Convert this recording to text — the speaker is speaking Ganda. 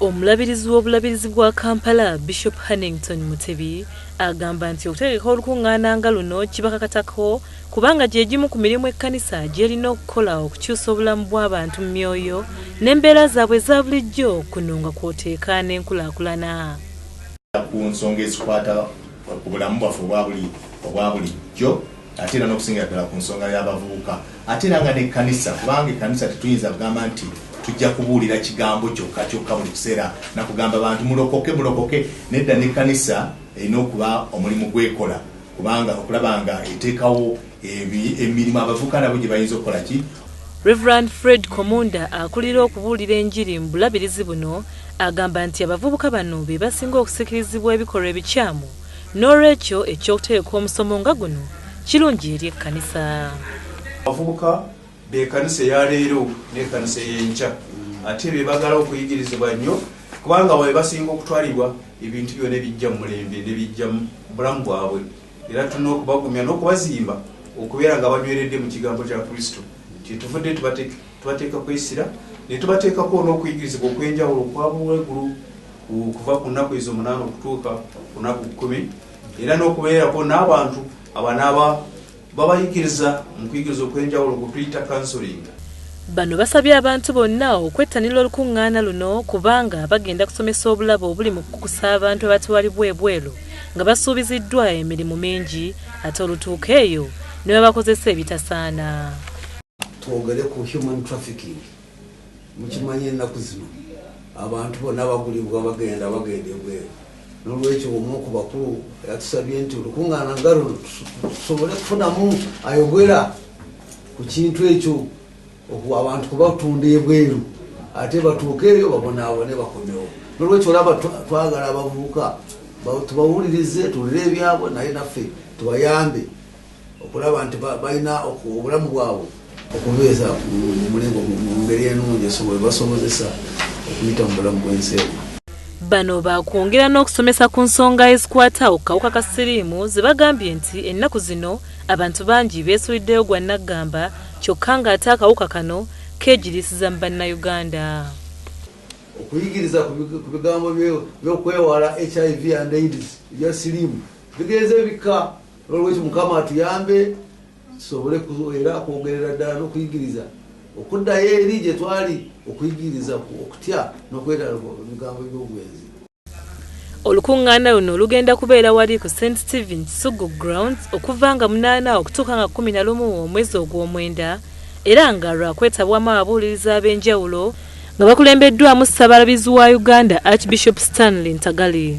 Omulabirizi w'obulabirizi bwa Kampala, Bishop Hannington Mutebi agamba nti okutegeka olukungaana nga luno kibakakatako kubanga gye gimu ku mirimu ekkanisa gy'erina okukola okukyusa obulamu bw'abantu mu myoyo n'embeera zaabwe eza bulijjo kuno nga kw'oteeka n'enkulaakulana. ku nsonga ezikwata ku bulamu bwaffe obwa bulijjo. ate era n'okusingira ddala ku nsonga y'abavubuka ate era nga n'ekkanisa kubanga ekkanisa tetuyinza kugamba nti tujja kubuulira kigambo kyokka kyokka buli kiseera nakugamba bantu mulokoke mulokoke nedda n'ekkanisa erina okuba omulimu gwekola kubanga okulaba nga eteekawo emirimu abavubuka nabo gye bayinza okukola ki Reverend Fred Komunda akulira okubuulira enjiri mu bulabirizi buno agamba nti abavubuka bano be basinga okusikirizibwa ebikolwa ebikyamu N'olwekyo eky'okutegeka omusomo nga guno kirungi eri ekkanisa. Abavubuka b'ekanisa eya leero n'ekanisa ey'enkya ate be bagala okuyigirizibwa nnyo kubanga abo be basinga okutwalibwa ebintu byona ebijja mu mulembe ne bijja mu bulamu bwabwe. Era tulina okubagumya n'okubazimba okubeera nga banyweredde mu kigambo kya Kristo. Kyetuvudde tubategeka. Tubateeka kwesira ne tubateekako n'okuyigirizibwa okw'enjawulo okwabula egulu okuva ku nnaku ezo omunaana okutuuka ku nnaku kkumi era n'okubeerako n'abantu abanaaba babayigiriza mu kuyigiriza okw'enjawulo ku tuyita kansolinga. Bano basabye abantu bonna okwettanira olukuŋŋaana luno kubanga bagenda kusomesa obulabo obuli mu kukusa abantu abatwalibwa ebweru nga basuubiziddwa emirimu mingi ate olutuuka eyo ne babakozesa ebitasaana. twogere ku human trafficking mukimanye ennaku zino abantu bonna bagulibwa bagenda bagenda ebweru nolwekyo omu oku bakulu yatusabye nti olukuŋŋaana nga luno tusobole kufunamu ayogera ku kintu ekyo abantu kubatunda ebweru ate batuuke eyo babonaabone bakomewo nolwekyo olaba twagala abavubuka tubawulirize tuwulire ebyabwe naye naffe tubayambe okulaba nti balina obulamu bwabwe okubeeza mulingo mu ngeri enungi esobola basobozesa okuyita mu bulamu bwensi eno Bano baakwongera n'okusomesa ku nsonga ezikwata ku kawuka ka siriimu ze bagambye nti ennaku zino abantu bangi beesuliddeyo gwa nnaggamba kyokka ng'ate akawuka kano keegiriisiza mu Bannayuganda. Okuyigiriza ku bigambo by'okwewala HIV and AIDS ebya siriimu bigenze bikka. nolwekyo mukama atuyambe tusobole era kwogerera ddala nokuyigiriza okuddayo eri gye twali okuyigiriza okutya nokwetala bigambo byobwenzi olukuŋŋaana luno lugenda kubeera wali ku st stephen kisugu grounds okuva nga munaana okutuuka nga kumi na lumu omwezi ogw'omwenda era nga lwakwetabwamu ababuuliriza ab'enjawulo nga bakulembeddwamu ssabalabizi wa uganda archbishop stanley ntagali